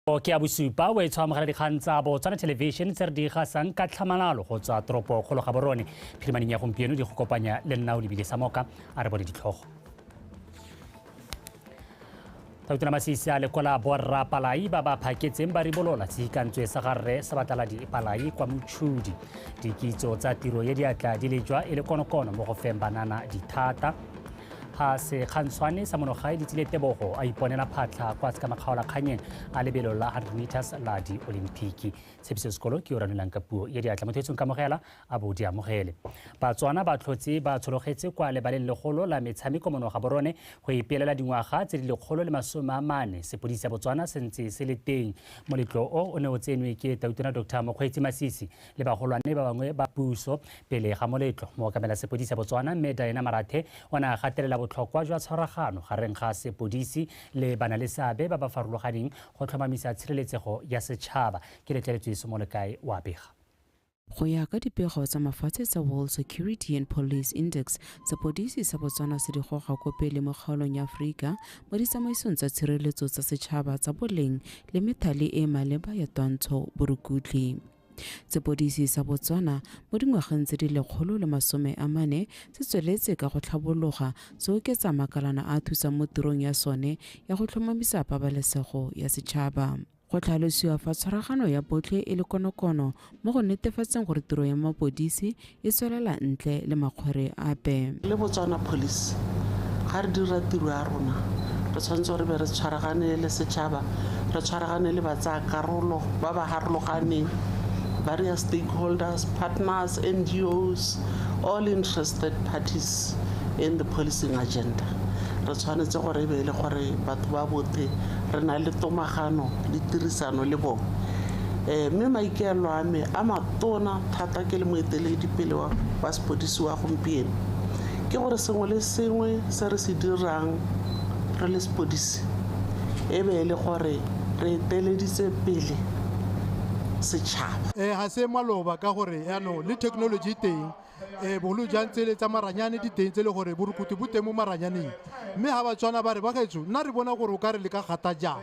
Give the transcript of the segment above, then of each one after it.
ke ya bosupa o e tshwa amogela dikgang tsa botswana television tse re di gasang ka tlhamalalo go tswa toropo kgolo ga borone phirimaneng ya gompieno di go kopanya le nna o lebile sa moka a re bone ditlhogo tautona masisi a lekola borra palai ba ba phaketseng ba ribolola tshikantswe sa garre sa bataladi palai kwa motšhudi dikitso tsa tiro ye diatla di lejwa e le konokono mo go feng banana dithata ga sekgantshwane sa monogae di tsile tebogo a iponela phatlha kwa se ka makgaolakganyeng a lebelo la 100 meters la di-olimpiki tshepiso sekolo ke o ranolang ka puo ya diatla motho etsong kamogela a bo di amogele batswana ba tlhotse ba tshologetse kwa lebaleng legolo la metshameko monoga borone go ipeelela dingwaga tse di lekgolo le masome a mane sepodisi sa botswana se ntse se le teng moletlo o o ne o tsenwe ke tautona dr mokgweetsi masisi le bagolwane ba bangwe ba puso. Pele ga moletlo, mookamela sepodisi ya Botswana, Mme Diana Marathe, o ne a gatelela botlhokwa jwa tshwaragano gareng ga sepodisi le banaleseabe ba ba farologaneng go tlhomamisa tshireletsego ya setšhaba. Ke letleletswe Somolekae o a bega. Go ya ka dipego tsa mafatshe tsa World Security and Police Index, sepodisi sa Botswana se di goga ko pele mo kgaolong ya Aforika mo ditsamaisong tsa tshireletso tsa setšhaba tsa boleng le methale e e maleba ya twantsho borukutlhi. Sepodisi sa Botswana mo dingwageng tse di lekgolo le masome a mane se tsweletse ka go tlhabologa se oketsa makalana a thusang mo tirong ya sone ya go tlhomamisa pabalesego ya setšhaba. Go tlhalosiwa fa tshwaragano ya botlhe e le konokono mo go netefatseng gore tiro ya mapodisi e tswelela ntle le makgwere ape. Le Botswana Police ga re dira tiro ya rona re tshwanetse gore be re tshwaragane le setšhaba re tshwaragane le batsaya karolo ba ba harologaneng various stakeholders partners ngos all interested parties in the policing agenda re tshwanetse gore e be e le gore batho ba bothe re na le tomagano le tirisano le bone um mme maikaelelo a me a matona thata ke le moeteledipele wa wa sepodisi wa gompieno ke gore sengwe le sengwe se re se dirang re le sepodisi e be e le gore re eteleditse pele setšhaba um ga se maloba ka gore yaanong le technology teng um bogolo jang tsele tsa maranyane di teng tse le gore borukutu bo teng mo maranyaneng mme ga ba tshwana ba re ba gaetso nna re bona gore o ka re le ka gata jang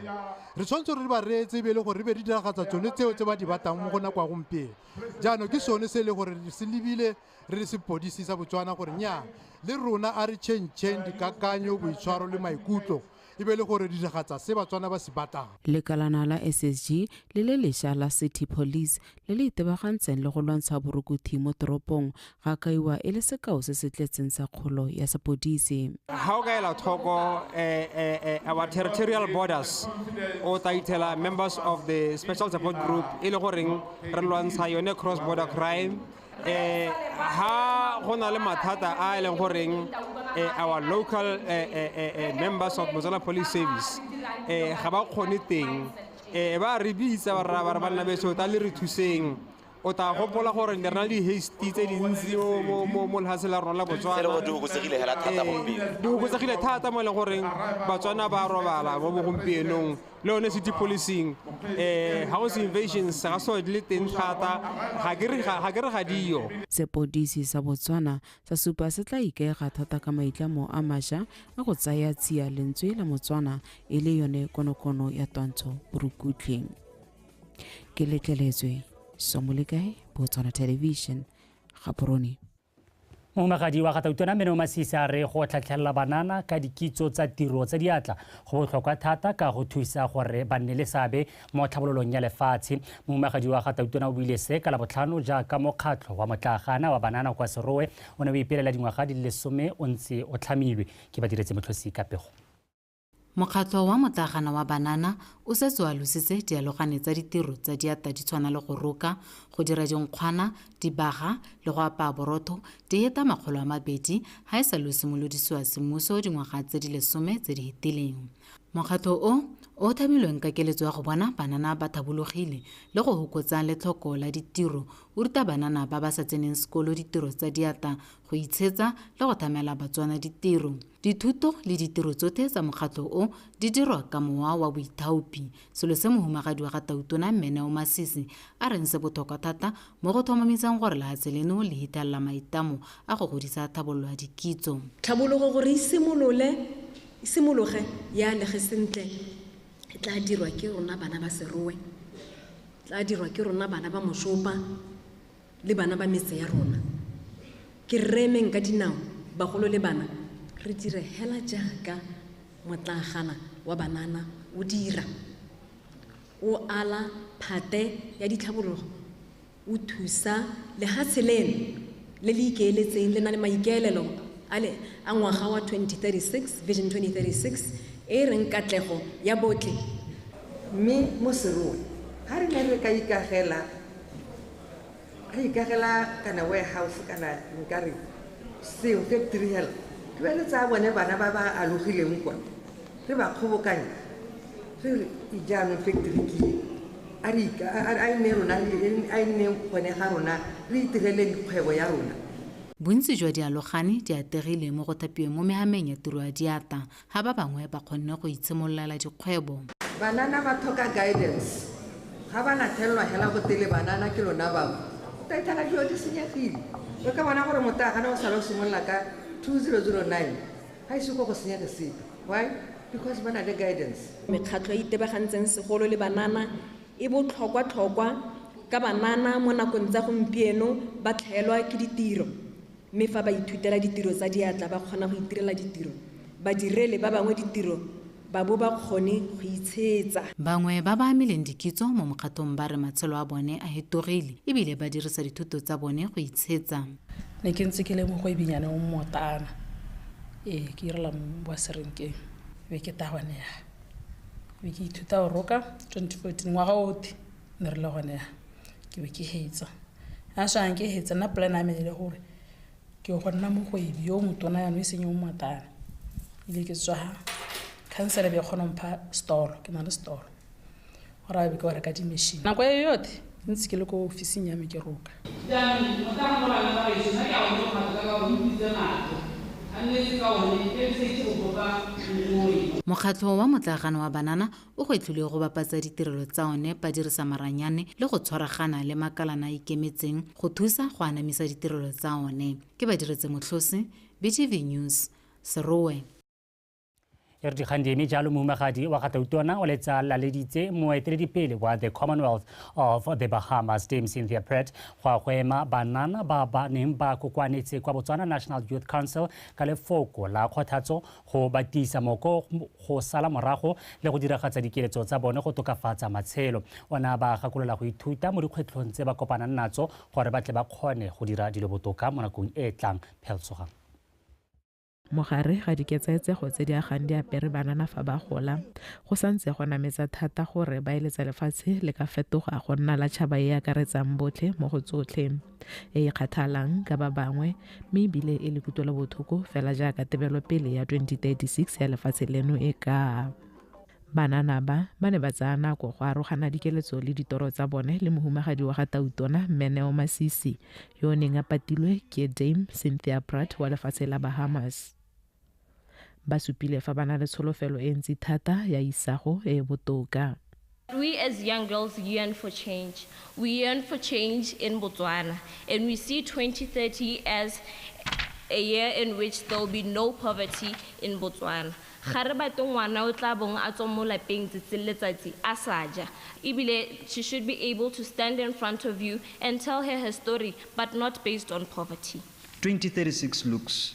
re tshwanetse re ba reetse be e le gore re be re diragatsa tsone tseo tse ba di batang mo go nako ya gompieno jaanong ke sone se e le gore re se lebile re le sepodisi sa botswana gore nya le rona a re chentšheng dikakanyo boitshwaro le maikutlo e be le gore diragatsa se batswana ba se batlang lekalana la ssg le le lesha la city police le le itebagantseng le go lwantsha borukuthi mo toropong ga kaiwa e le sekao se se tletseng sa kgolo ya sepodisi. Ga o ka ela tlhoko eh, eh, eh, our territorial borders o tla ithela members of the special support group e le goreng re lwantsha yone cross border crime eh ha go na le mathata a e leng goreng eh, our local eh, eh, eh, eh members of Mozilla Police Service eh ga ba kgone teng eh ba re bitsa ba re ba re banna beso ta le re thuseng O tla gopola gore ne re na le di-hasty tse dintsi mo lefatshe la rona la Botswana. Di oketsegile fela thata gompieno. Di oketsegile thata mo e leng goreng Batswana ba robala mo bogompienong le yone city policing. Um house invasions ga so di le teng thata, ga ke re ga diyo. Sepodisi sa Botswana sa supa se tla ikaega thata ka maitlamo a masha a go tsaya tsia lentswe la Motswana e le yone konokono ya twantsho borukutlhi. ke letleletswe somolekae botswana television gaporone momegadi wa gatautona mene o masisi a re go tlhatlhelela banana ka dikitso tsa tiro tsa diatla go botlhokwa thata ka go thusa gore ba nne le seabe mo tlhabololong ya lefatshe momegadi wa gatautona o buile se ka labotlhano jaaka mokgatlho wa motlagana wa banana kwa serowe o ne o ipelela dingwaga di le lesome o ntse o tlhamilwe ke badiretse motlhosi ka pego Mokgatlho wa Motagana wa Banana o setse o alositse dialogane tsa ditiro tsa diatla di tshwana le go roka, go dira dinkgwana, dibaga le go apaya borotho di heta makgolo a mabedi ha e sa lo simolodisiwa semmuso dingwaga tse di lesome tse di hetileng. Mokgatlho o, o o thabilweng ka keletso ya go bona banana ba thabologile le go hokotsa letlhoko la ditiro, o ruta banana ba ba sa tseneng sekolo ditiro tsa diatla, go itshetsa le go thamela Batswana ditiro. Dithuto le ditiro tsothe tsa mokgatlho o di dirwa ka mowa wa boithaopi, selo se mohumagadi wa ga Tautona Mme Neo Masisi a reng se bothokwa thata mo go tlhomamisang gore lehatshe leno le hithelela maitamo a go godisa tlhabololo ya dikitso. Tlhabologo gore e simolole, e simologe e alege sentle e tlaa dirwa ke rona bana ba Serowe, e tlaa dirwa ke rona bana ba Moshopa, le bana ba metse ya rona ke rre emeng ka dinao bagolo le bana re dire hela jaaka motlagana wa banana o dira o ala phate ya ditlhabologo o thusa lehatshe leno le le ikeeletseng le na le maikaelelo a ngwaga wa 2036 vision 2036 e reng katlego ya botle mme mo seroe ga re ne re ka ikagela Re ikagela kana warehouse kana nka re seng factory hela, re be re tsaya bone bana ba ba alogileng kwa re ba kgobokanye re re jaanong factory ke e. A re a e nne rona a e nne gone ga rona re itireleng kgwebo ya rona. Bontsi jwa dialogane di ategile mo go thapiweng mo mehameng ya tiro ya diatla. ga ba bangwe ba kgonne go itshimololela dikgwebo. Banana ba thoka guidance. Ga ba na thelelwa hela gotele banana ke lona bangwe. O ka ithana dilo di senyegile. O ka bona gore motagana o sala o simolola ka 2009 ga ise ko go senyege sepe. Why? Because ba na le guidance. Mekgatlho e e itebagantseng segolo le banana e botlhokwatlhokwa ka banana mo nakong tsa gompieno ba tlhaelwa ke ditiro. Mme fa ba ithutela ditiro tsa diatla ba kgona go itirela ditiro, ba direle ba bangwe ditiro ba bo ba kgone go itshetsa. Bangwe ba ba amileng dikitso mo mokgatong ba re matshelo a bone a hetogile e bile ba dirisa dithuto tsa bone go itshetsa. Ne ke ntse ke le mogoebinyana o mmootana, ee, ke irela wa serenkeng. Be ke tahwa ne ya be ke ithuta go roka 2014 ngwaga otlhe. ne re le gone ya ke be ke hetsa a swang ke hetsa nna plan ame le gore ke go nna mogwebi yo motona yano e seng yo mmatana ile ke tswa councilor be kgona mpha stolo ke na le stolo gore a be ke wa reka di-machine nako e yothe ntse ke le ko officing ya me ke roka mokgatlho wa motlagano wa banana O gwetlhilwe go bapatsa ditirelo tsa one ba dirisa maranyane le go tshwaragana le makalana a ikemetseng go thusa go anamisa ditirelo tsa one. Ke Badiretse Motlhose, BTV News, Serowe. E re dikgang di eme jalo mohumagadi wa gatautona o letsa laleditse moeteledipele wa the commonwealth of the bahamas dame cynthia pratt go a go ema banana ba ba neng ba kokwanetse kwa botswana national youth council ka lefoko la kgothatso go ba tiisa moko go sala morago le go diragatsa dikeletso tsa bone go tokafatsa matshelo. O ne a ba gakolola go ithuta mo dikgwetlhong tse ba kopanang natso gore ba tle ba kgone go dira dilo botoka mo nakong e e tlang. Pheltsogang. Mogare ga diketsaetsego tse di agang di apere banana fa ba gola, go sa ntse go nametsa thata gore ba eletsa lefatshe le ka fetoga go nna la tšhaba e e akaretsang botlhe mo go tsotlhe. e e kgathalang ka ba bangwe mme ebile e le kutlwelobotlhoko fela jaaka tebelopele ya 2036 ya lefatshe leno e ka banana ba ba ne ba tsaya nako go arogana dikeletso le ditoro tsa bone le mohumagadi wa ga tautona mmeneo masisi yo o neng a patilwe ke dame cynthia pratt wa lefatshe la bahamas Ba supile fa ba na le tsholofelo e ntsi thata ya isago e e botoka. We as young girls yearn for change. We yearn for change in Botswana and we see 2030 as a year in which there will be no poverty in Botswana. Ga re batle ngwana o tla bong a tswa mo lapeng tsatsi le letsatsi a sa ja. Ebile she should be able to stand in front of you and tell her her story but not based on poverty. 2036 looks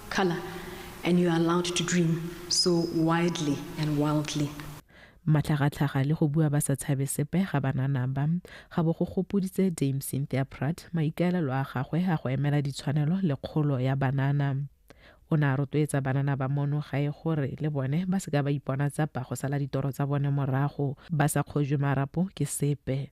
Color and you are allowed to dream so widely and wildly. Matlhagatlhaga le go bua ba sa tshabe sepe ga banana ba, ga bo go gopoditse Dame Cynthia Pratt maikaelelo a gagwe a go emela ditshwanelo le kgolo ya banana. O ne a rotloetsa banana ba mono gae gore le bone ba seka ba ipona tsapa go sala ditoro tsa bone morago, ba sa kgojwe marapo ke sepe.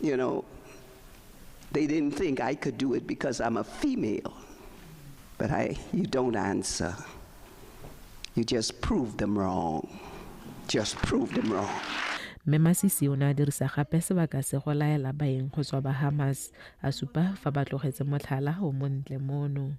you know they didn't think i could do it because i'm a female but i you don't answer you just prove them wrong just prove them wrong mme masisi o ne a dirisa gape sebaka se go laela baeng go tswa ba hamas a supa fa ba tlogetse motlhala o montle mono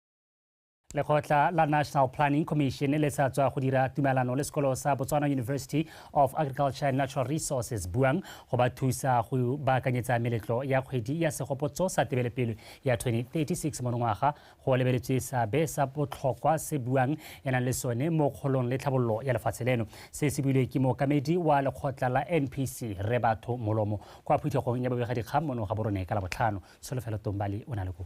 lekgotla la national planning commission le sa tswa go dira tumelano le sekolo sa botswana university of agriculture and natural resources buang go ba thusa go baakanyetsa meletlo ya kgwedi ya segopotso sa tebelepele ya 2036 monongwaga go lebeletswe seabe sa botlhokwa se buang e nang le sone mo kgolong le tlhabololo ya lefatshe leno se se builwe ke mookamedi wa lekgotla la npc re batho molomo kwa phuthegong ya bobegadikgang mono ga borone ka labotlhano tsholofelo tombali o na le ko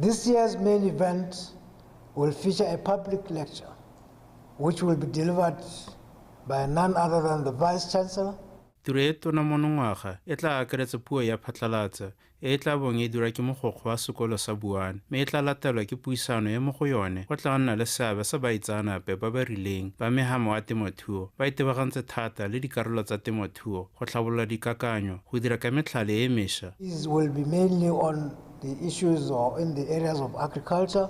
This year's main event will feature a public lecture which will be delivered by none other than the Vice Chancellor. Tiro e tona monongwaga e tla akaretsa puo ya phatlalatsa e e tla bong e dira ke mogokgo wa sekolo sa Buane mme e tla latelwa ke puisano e mo go yone go tla nna le seabe sa baitsaanape ba ba rileng ba megamo wa temothuo ba itebagantse thata le dikarolo tsa temothuo go tlhabolola dikakanyo, go dira ka metlhale e mesha. These will be mainly on the issues or in the areas of agriculture,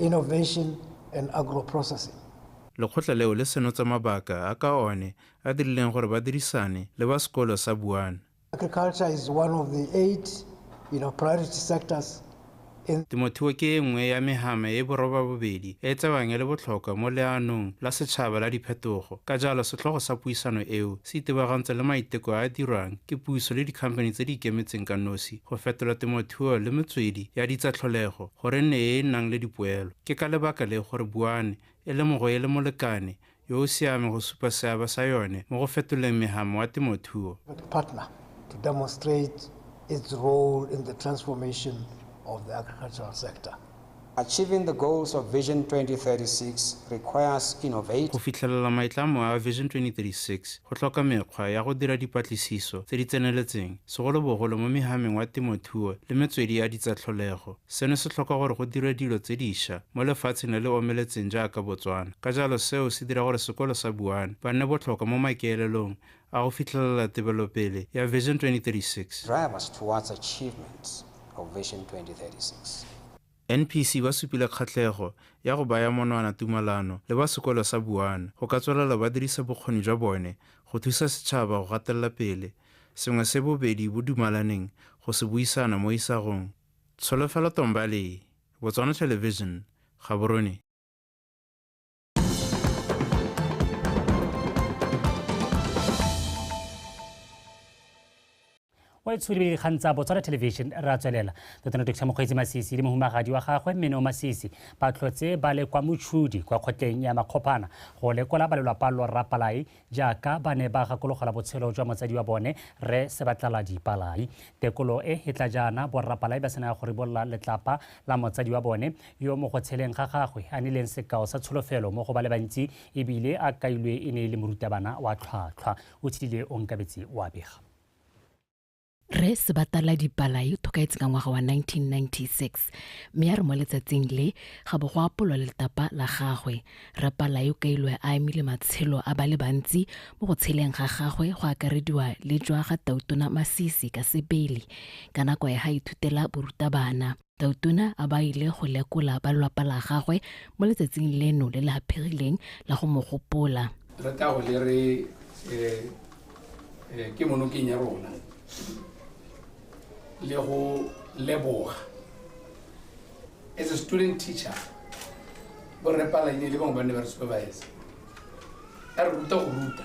innovation and agro-processing. Lekgotla leo le senotse mabaka a ka one a dirileng gore ba dirisane le ba sekolo sa Buana. Agriculture is one of the eight priority sectors Temotheo ke e nngwe ya mehama e borobabobedi e e tsewang e le botlhokwa mo leanong la setšhaba la diphetogo, ka jalo setlhogo sa puisano eo se itebagantse le maiteko a a dirwang ke puso le dikhamphani tse di ikemetseng ka nosi go fetola temotheo le metswedi ya ditsatlholego gore e nne e e nang le dipoelo. Ke ka lebaka le gore buane e lemogwe e le molekane yo o siame go supa seabe sa yone mo go fetoleng megamo wa temothuo. Go fitlhelela maitlamo a Vision 2036 go tlhoka mekgwa ya go dira dipatlisiso tse di tseneletseng, segolobogolo mo megameng wa temothuo le metswedi ya ditsatlholego. Seno se tlhoka gore go dirwe dilo tse disha mo lefatsheng le le omeletseng jaaka Botswana. Ka jalo seo se dira gore sekolo sa Buane ba nne botlhokwa mo makeelelong a go fitlhelela tebelopele ya Vision 2036. Drive us towards achievement of Vision 2036. NPC ba supile kgatlhego ya go baya monwana tumalano le ba sekolo sa Buane go ka tswelela ba dirisa bokgoni jwa bone go thusa setšhaba go gatelela pele sengwe se bobedi bo dumalaneng go se buisana mo isagong. Tsholofelo Tombali, Botswana Television, Gaborone. o e tsholebile dikgang tsa botswana television ra tswelela totano tokisa mokgweetsi masisi le mohumagadi wa gagwe mme neo masisi ba tlhotse ba le kwa motšhudi kwa kgotleng ya makgophana go lekola ba lelwapa lorra palai Jaaka ba ne ba gakologelwa botshelo jwa motsadi wa bone, Rre Sebatlaladi Palai, tekolo e e tla jaana borra Palai ba sena go ribolola letlapa la motsadi wa bone, yo mo go tsheleng ga gagwe a nileng sekao sa tsholofelo mo go ba le bantsi e bile a kailwe e ne e le morutabana wa tlhwatlhwa. O tshlile Onkabetse o a bega. Rre Sebatala Dipala yo tlhokaetse ka ngwaga wa 1996 mme a re mo letsatsing le ga bo go apolwa letapa la gagwe. Rre Pala yo kailwe a emile matshelo a ba le bantsi mo go tsheleng ga gagwe go akarediwa le jwa ga Tautona Masisi ka sebele ka nako ya ga ithutela borutabana. Tautona a ba ile go lekola ba lelapa la gagwe mo letsatsing leno le le haphirileng la go mo gopola. Re tla go le re eh, eh, ke monokeng ya rona le go leboga as a student teacher borre palaine le bangwe ba ne ba re supervise a re ruta go ruta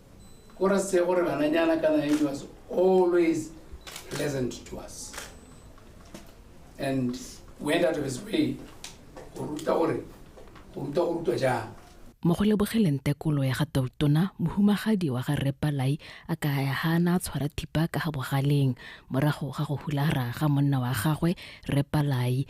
o re se gore bananyana kana he was always pleasant to us and went out of his way go ruta gore go ruta go rutwa jang mo go lebogeleng tekolo ya ga tautona mohumagadi wa ga repalai a ka ya ga na tshwara thipa ka ga bogaleng morago ga go hulara ga monna wa gagwe repalai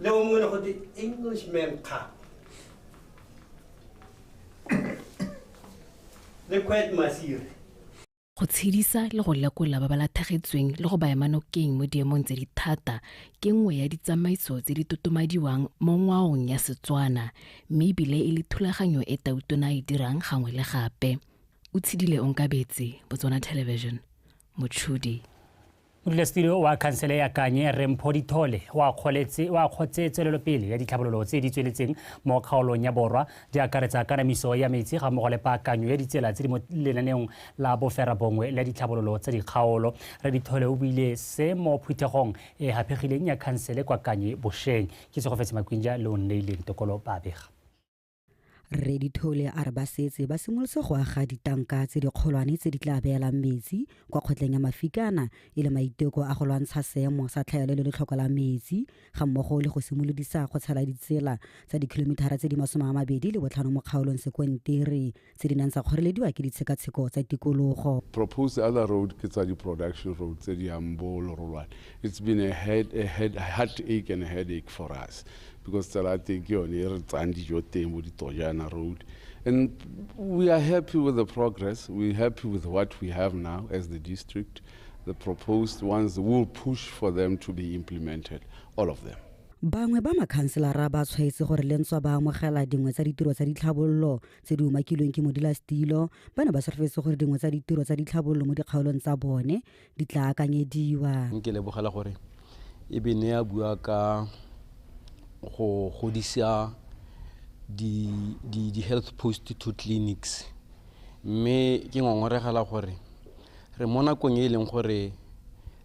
Alam mo muna ko, the Englishman ka. Le Kwet Masir. go tshedisa le go lekola ba ba lathagetsweng le go ba ema nokeng mo diemong tse di thata ke nngwe ya ditsamaiso tse di totomadiwang mo ngwaong ya Setswana mme ebile e le thulaganyo e Tautona e dirang gangwe le gape. O tshedile Onkabetse, Botswana Television, Motšhudi. Modulasetilo wa khansele ya Kanye, Rre Mpho Dithole, o akgotse tswelelopele ya ditlhabololo tse di tsweletseng mo kgaolong ya Borwa, di akaretsa kanamiso ya metsi ga mmogo le paakanyo ya ditsela tse di mo lenaneong la boferabongwe la ditlhabololo tsa dikgaolo. Rre Dithole o buile se mo phuthegong e e haphegileng ya khansele kwa Kanye bosheng. Ke Tsogofetse Makwinja le o nneileng tokolo ba bega. Rre Dithole a re ba setse ba simolotse go aga ditanka tse dikgolwane tse di tla beelang metsi kwa kgotleng ya Mafikana e le maiteko a go lwantsha seemo sa tlhaelo le letlhoko la metsi ga mmogo le go simolodisa go tshela ditsela tsa dikilomithara tse di masome a mabedi le botlhano mo kgaolong Sekontere tse di nang tsa kgorelediwa ke ditshekatsheko tsa tikologo. Proposed other road ke tsa di-production road tse di yang bo Lorolwane. It's been a, head, a head, heartache and a headache for us because tsela ya teng ke yone e re tsayang dijo teng bo ditojana road and we are happy with the progress we're happy with what we have now as the district the proposed ones will push for them to be implemented all of them Bangwe ba makhanselara ba tshwaetse gore le ntswa ba amogela dingwe tsa ditiro tsa ditlhabololo tse di umakilweng ke modilasetilo ba ne ba solofetse gore dingwe tsa ditiro tsa ditlhabololo mo dikgaolong tsa bone di tla akanyediwa ke lebogela gore e be ne ya bua ka go godisa di-health post to clinics mme ke ngongoregela gore re mo nakong e e leng gore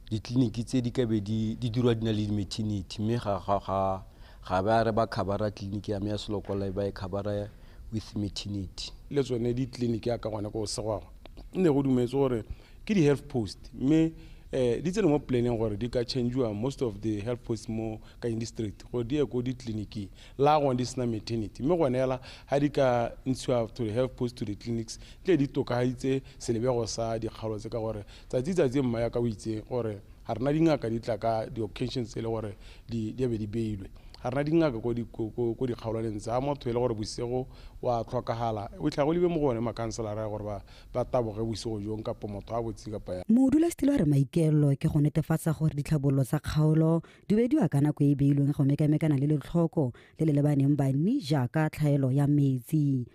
ditleliniki tse di kabe di dirwa di na le di-maternity mme ga ba re ba khabara tleliniki ya me ya selokola e ba e khabara with maternity le tsone ditleliniki ya ka gone ko segwagwa nne go dumetse gore ke di-health post mme um di tsene mo planeng gore di ka changiwa most of the health post mo ka indistrict gore di ye ko ditleliniking la gone di sena maternity mme gone ela ga di ka ntshiwa to the health post to the clinics tle di tokagaditse selebego sa dikgalo tse ka gore Tsatsi tsatsi mma ya ka o itse gore ga rena dingaka di tla ka di-occasions tse e le gore di di a be di beilwe. Ga rena dingaka ko di ko ko ko dikgaolaneng tse. Ga motho e le gore bosigo o a tlhokagala, o fitlhela go lebilwe mo go one makhanselara gore ba ba taboge bosigo jong kapa motho a botse kapa yang. Modulasetilo a re maikaelelo ke go netefatsa gore ditlhabololo tsa kgaolo di wediwa ka nako e e beilweng go mekamekana le letlhoko le le lebaneng banni jaaka tlhaelo ya metsi.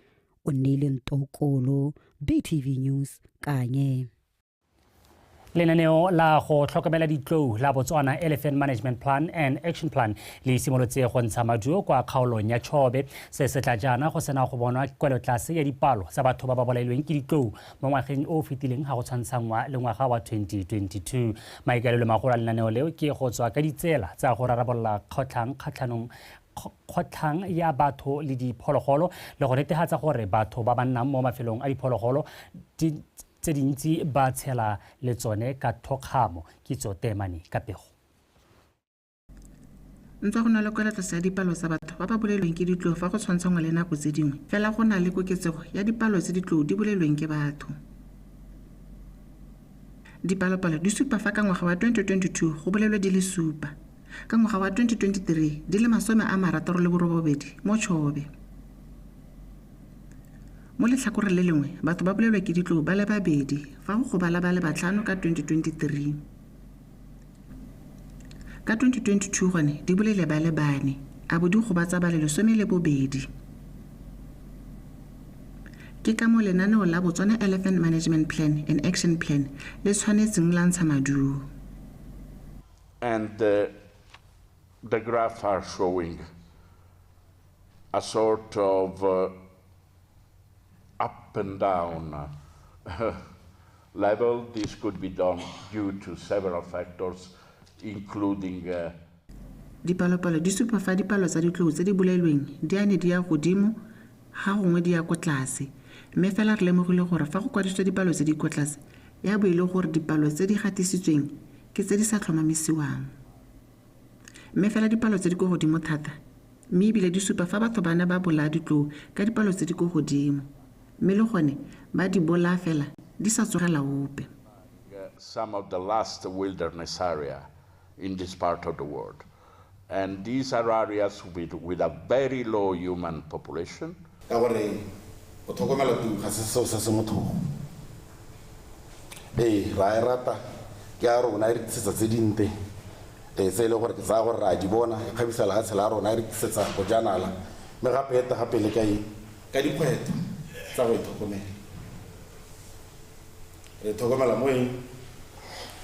unnile ntokolo btv news kanye lenaneo la go tlhokomela ditlou la botswana elephant management plan and action plan le simolotse go ntsha maduo kwa kgaolong ya chobe se se tla jaana go sena go bonwa kwelotlase ya dipalo tsa batho ba ba bolailweng ke ditlou mo ngwageng o o fetileng ga go tshwantshanngwa le ngwaga wa 2022 maikaelelo magolo a lenaneo leo ke go tswa ka ditsela tsa go rarabolola kgotlhang kgatlhanong kgotlhang ya batho le diphologolo le go netefatsa gore batho ba ba nnang mo mafelong a diphologolo tse dintsi ba tshela le tsone ka thokgamo kitso teemane ka pego ntse go na le kwelatlase ya dipalo tsa batho ba ba bolelweng ke ditloo fa go tshwantshangwa le nako tse dingwe fela go na le koketsego ya dipalo tse ditloo di bolelweng ke batho dipalopalo di supa fa ka ngwaga wa 2022 go bolelwe di le supa ka ngwaga wa 2023 di le masome a marataro le borobobedi mo Chobe. Mo letlhakoreng le lengwe, batho ba bolelwa ke ditlou ba le babedi fa go gobala ba le batlhano ka 2023. Ka 2022 gone di bolele ba le bane a bo di gobatsa ba le lesome le bobedi. Ke ka mo lenaneo la Botswana Elephant Management Plan and Action Plan le tshwanetseng la ntsha maduo. and the, the graph are showing a sort of uh, up and down uh, level. This could be done due to several factors, including uh, dipalopalo di supa fa dipalo tsa ditlou tse di bolailweng di a ne di ya godimo Ga gongwe di ya ko tlase, mme fela re lemogile gore fa go kwadisitswe dipalo tse di ko tlase ya bo e le gore dipalo tse di gatisitsweng ke tse di sa tlhomamisiwang. Mme fela dipalo tse di ko godimo thata mme ebile di supa fa batho ba ne ba bolaya ditlou ka dipalo tse di ko godimo mme le gone ba di bolaya fela di sa tsogela ope. Some of the last wilderness area in this part of the world. And these are areas with, with a very low human population. ka gore go tlhokomela tiu ga se seo se se motlhogo ee ra e rata ke a rona e re tlisetsa tse dinte ee tse e leng gore ke tsaya gore re a di bona e kgabisa lefatshe la rona e re tlisetsa bojanala mme gape ete gape le ka e ka dikgwetlho tsa go e tlhokomela Re thokomela mo eng?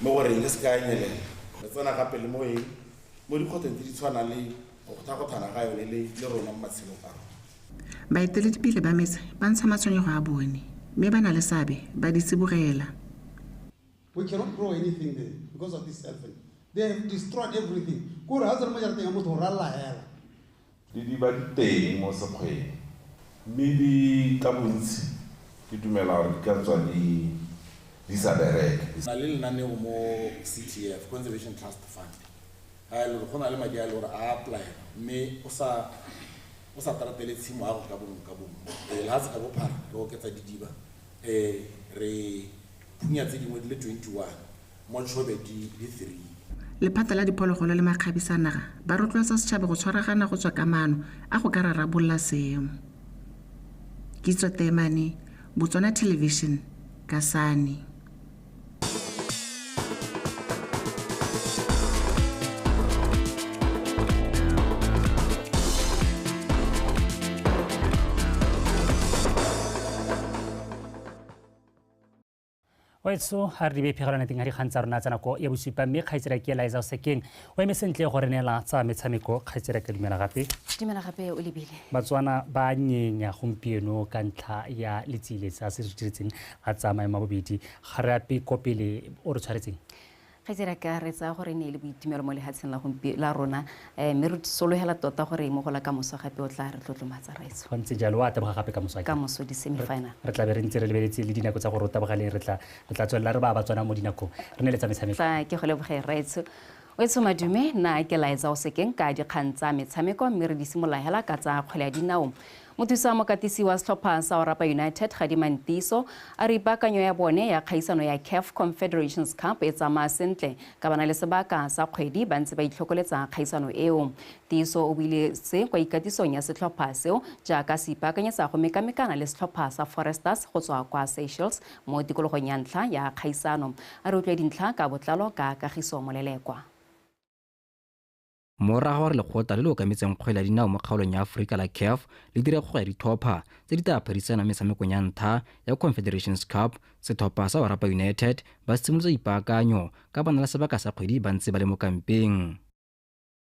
Mo go reng re se ka ya nyelela? Re tsena ka pele mo eng? Mo dikgwetlhong tse di tshwanang le go kgothagothana ga yone le le rona mo matshelong a rona. Baeteledipele ba metse ba ntsha matshwenyego a bone, mme ba na le seabe ba di tsibogela. We cannot grow anything there because of this elephant. They have destroyed everything. Ke gore ha o tsena mo jarateng ya motho o ralala hela. Di di ba di teng mo sekgweng. Mme di ka bontsi ke dumela gore di ka tswa di di sa bereke. Re na le lenaneo mo CTF, Conservation Trust Fund, ga e le gore go na le madi a e le gore a a apply-elwa mme o sa o sa tratele tshimo ya go ka bongwe ka bongwe. Ee, lehatshe ka bophara re oketsa didiba, re phunya tse dingwe di le 21. mo Tshobedi le Three. Lephata la Diphologolo le Makgabisa a Naga ba rotloetsa setšhaba go tshwaragana go tswa ka maano a go ka rarabolola seemo. Kitso Teemane, Botswana Television, Kasane. wetso ga re di bephegelwana teng ga dikgang tsa rona tsa nako ya bosupa mme kgaitsera ke eliza o sekeng o eme sentle go re neela tsa metshameko kgaitsera ka dumela gape dumela gape o lebile batswana ba nyenya gompieno ka ntlha ya letsile tsa se re diretseng ga tsamaye ma bobedi ga re ape kopele o re tshwaretseng Kgaitsadi a ka, re tsaya gore e ne e le boitumelo mo lehatsheng la gompieno la rona, mme re sologela tota gore mo go la kamoso gape o tlaa re tlotlomatsa, Raetsho. Go ntse jalo, o a taboga gape kamoso, akere? Kamoso, di-semifinal. Re tla be re ntse re lebeletse le dinako tsa gore o tabogale, re tla, re tla tswelela re baya Batswana mo dinakong. Re nne le tsa metshameko. Tla ke go leboge, Raetsho. Wetsho Madume, nna ke laetsa o se keng ka dikgang tsa metshameko, mme re di simolola hela ka tsa kgwele ya dinao. Mothusa mokatisi wa setlhopha sa Orapa United, Gadima Ntiso, a re ipaakanyo ya bone ya kgaisano ya CAF Confederations Cup e tsamaya sentle ka ba na le sebaka sa kgwedi ba ntse ba itlhokoletsa kgaisano eo. Ntiso o buile se kwa ikatisong ya setlhopha seo jaaka se ipaakanyetsa go mekamekana le setlhopha sa Foresters go tswa kwa Seychelles mo tikologong ya ntlha ya kgaisano. A re utlwe dintlha ka botlalo ka Kagiso Molelekwa. morago gore lekgotla le le okametseng kgwele ya dinao mo kgaolong ya aforika la caf le dire kgogo ya dithopa tse di tla phadisana metshamekong ya ntlha ya confederations cup setlhopha sa orapa united ba simolotse ipaakanyo ka bona la sebaka sa kgwedi ba ntse ba le mo kampeng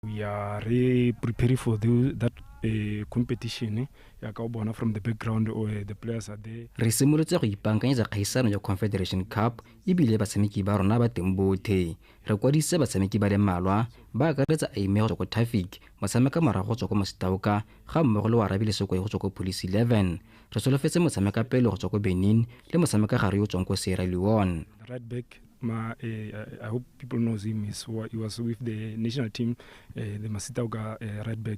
we are re preparing for the, that uh, competition ya ka bona from the background or uh, the players are there re simolotse go ipankanyetsa kgaisano ya confederation cup ebile batshameki ba rona ba teng bothe Re kwadisitse batshameki ba le mmalwa, ba akaretsa Aimé go tswa ko Tafic, motshameka morago go tswa ko Mositauka, ga mmogo le Warabi Lesokoe go tswa ko Police 11. Re solofetse motshameka pele go tswa ko Benin le motshameka gare yo o tswang ko Sierra Leone. Right back ma uh, I hope people knows him is he was with the national team uh, the Masitauka uh, right back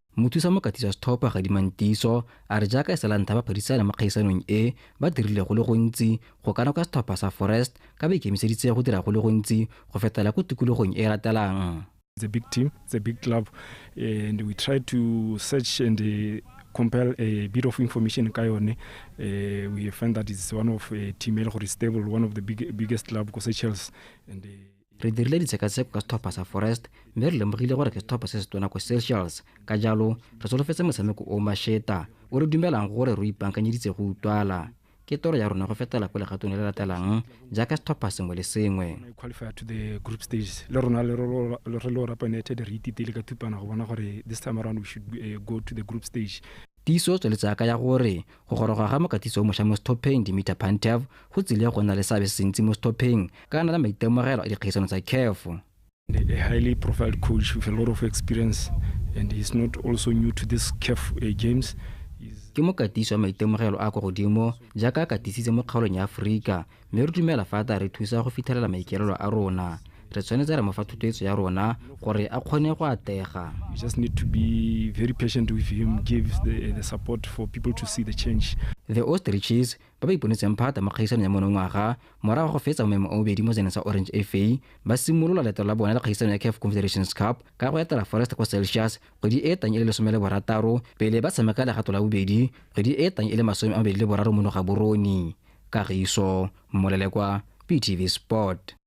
Mothusa Mokatisa Sthopha Gadimang Tiiso a re jaaka e sala ntlha ba phadisana mo kgaisanong e, ba dirile go le gontsi go ka na kwa setlhopha sa Forest ka ba ikemiseditse go dira go le gontsi go fetela ko tikologong e e latelang. It's a big team, it's a big club and we try to search and compile a bit of information ka yone. Uh, we find that it's one of a team e le gore stable, one of the big, biggest club ko Seychelles and uh, re dirile ditshekatsheko ka setlhopha sa forest mme re lemogile gore ke setlhopha se se tona ko seychelles ka jalo re solofetse motshameko o masheta o re dumelang gore re ipankanyeditse go utlwala ke toro ya rona go fetela ko legatong le le latelang jaaka setlhopha sengwe le sengwe qualify to the group stages le rona le ro- le- re le orapa united re ititile ka thupana go bona gore this time around we should eh, go to the group stage Tiiso o tsweletse a kaya gore go goroga ga mokatisi o mošwa mo setlhopheng, Dimitar Pantev, go tsile go nna le seabe se sentsi mo setlhopheng ka a na le maitemogelo a dikgaisano tsa CAF. A highly profiled coach with a lot of experience and he's not also new to this CAF games. Ke mokatisi wa maitemogelo a a kwa godimo jaaka a katisitse mo kgaolong ya Aforika mme re dumela fa a tla re thusa go fitlhelela maikelelo a rona re tshwanetse re mo fa thutetso ya rona gore a kgone go atega We just need to be very patient with him, give the, the support for people to see the change. the ostriches ba ba iponetseng phata mo kgaisanong ya monongwaga morago ga go fetsa mo maemo a bobedi mo seneng sa orange fa ba simolola leeto la bone la kgaisano ya caf confederations cup ka go etela forest ko celsius kgwedi e e tlang e le lesome le borataro pele ba tshameka legato la bobedi kgwedi e e tlang e le masome a mabedi le boraro mono ga borone kagiso molelekwa ptv sport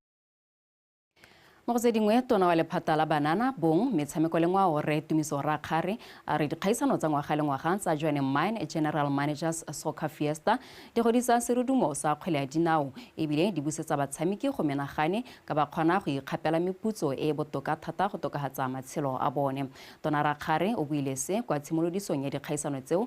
mo go tse dingwe tona wa lephata la banana bong metshameko le ngwao re tumiso rakgare a re dikgaisano tsa ngwaga le ngwaga tsa joane mine general managers soccer fiesta di godisa serudumo sa kgwele ya dinao ebile di busetsa batshameki go menagane ka ba kgona go ikgapela meputso e e botoka thata go tokagatsa matshelo a bone tona rakgare o buile se kwa tshimolodisong ya dikgaisano tseo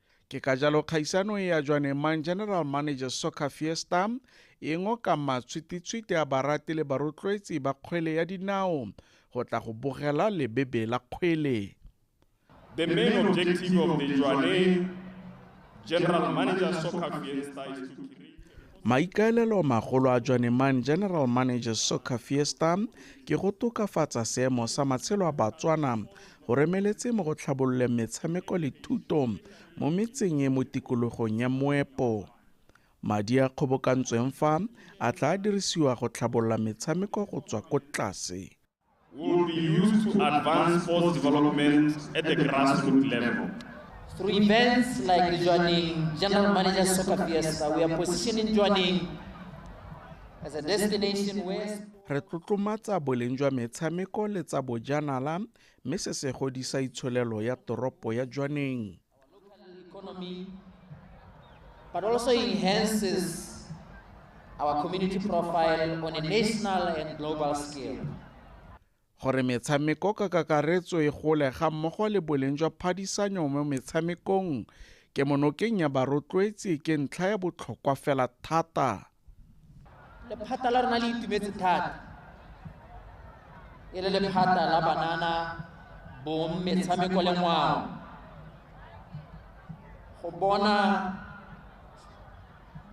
ke ka jalo kgaisano e ya jwaneng mang general manager soccer fiesta e ngoka matshwititshwiti a barati le barotloetsi ba kgwele ya dinao go tla go bogela lebebe la kgwele The main objective of the Jwaneng General Manager Soccer Fiesta is to create Maikaelelo magolo a Jwaneman General Manager Soccer Fiesta ke go tokafatsa seemo sa matshelo a Batswana Go remeletse mo go tlhabololeng metshameko le thuto mo metseng e mo tikologong ya Moepo. Madi a kgobokantsweng fa a tla dirisiwa go tlhabolola metshameko go tswa ko tlase. will be used to advance sports development at the grassroots level. Through events like the Joining General Manager Soccer Fiesta, we are positioning Joining as a destination where Re tlotlomatsa boleng jwa metshameko le tsa bojanala mme se se godisa itsholelo ya toropo ya Jwaneng. but also enhances our community profile on a national and global scale. Gore metshameko ka kakaretso e gole ga mmogo le boleng jwa phadisanyo mo metshamekong, kemonokeng ya barotloetsi ke ntlha ya botlhokwa fela thata. Lephata la rona le itumetse thata e le lephata la banana, bong, metshameko le ngwao go bona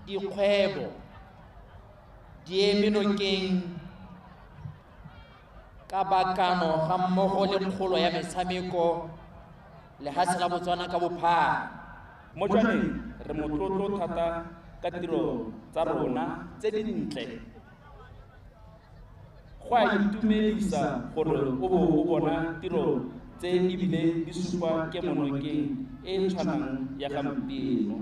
dikgwebo di eme nokeng ka bakano ga mmogo le kgolo ya metshameko lehatshe la botswana ka bophara mo jwaneng re motlotlo thata ka tiro tsa rona tse dintle go a itumedisa gore o bo o bona tiro tse ebile di supa ke monokeng e e tshwanang ya gampieno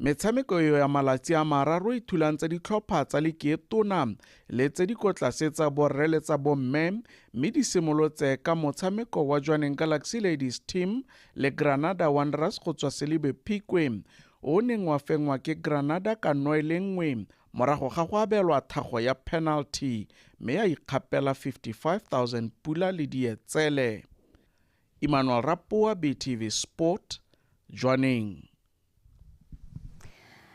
Metshameko eo ya malatsi a mararo e thulantse ditlhopha tsa likeetona le tse di kotlase tsa borre le tsa bomme mme di simolotse ka motshameko wa Jwaneng Galaxy Ladies Team le Granada Wanderers go tswa Selibe Phikwe o neng wa fengwa ke Granada ka noe le nngwe morago ga go abelwa thago ya penalty mme ya ikgapela 55000 pula le dietsele Emmanuel Rapoa BTV Sport Jwaneng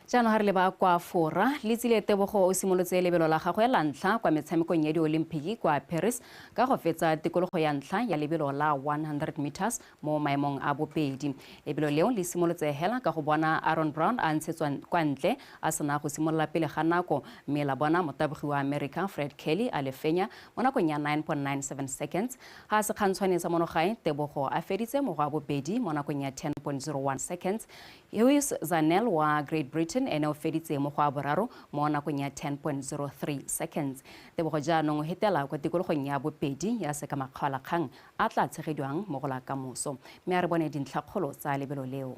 jaanong ga re leba kwa fora le tsile tebogo o simolotse lebelo la gagwe la ntlha kwa metshamekong ya diolimpiki kwa paris ka go fetsa tikologo ya ntlha ya lebelo la 100 meters mo maemong a bobedi lebelo leo le simolotse hela ka go bona aaron brown a ntshetswa kwa ntle a sena go simolola pele ga nako mme la bona motabogi wa america fred kelly a le fenya mo nakong ya 9.97 seconds Ga se kgantshwane tsa mono gae, Tebogo a feditse mo go a bobedi mo nakong ya 10.01 seconds. Hugues Zanel wa Great Britain ene o feditse mo go a boraro mo nakong ya 10.03 seconds. Tebogo jaanong o hetela kwa tikologong ya bobedi ya sekamakgaolakgang a tla tshegediwang mo go la kamoso. Mme a re bone dintlhakgolo tsa lebelo leo.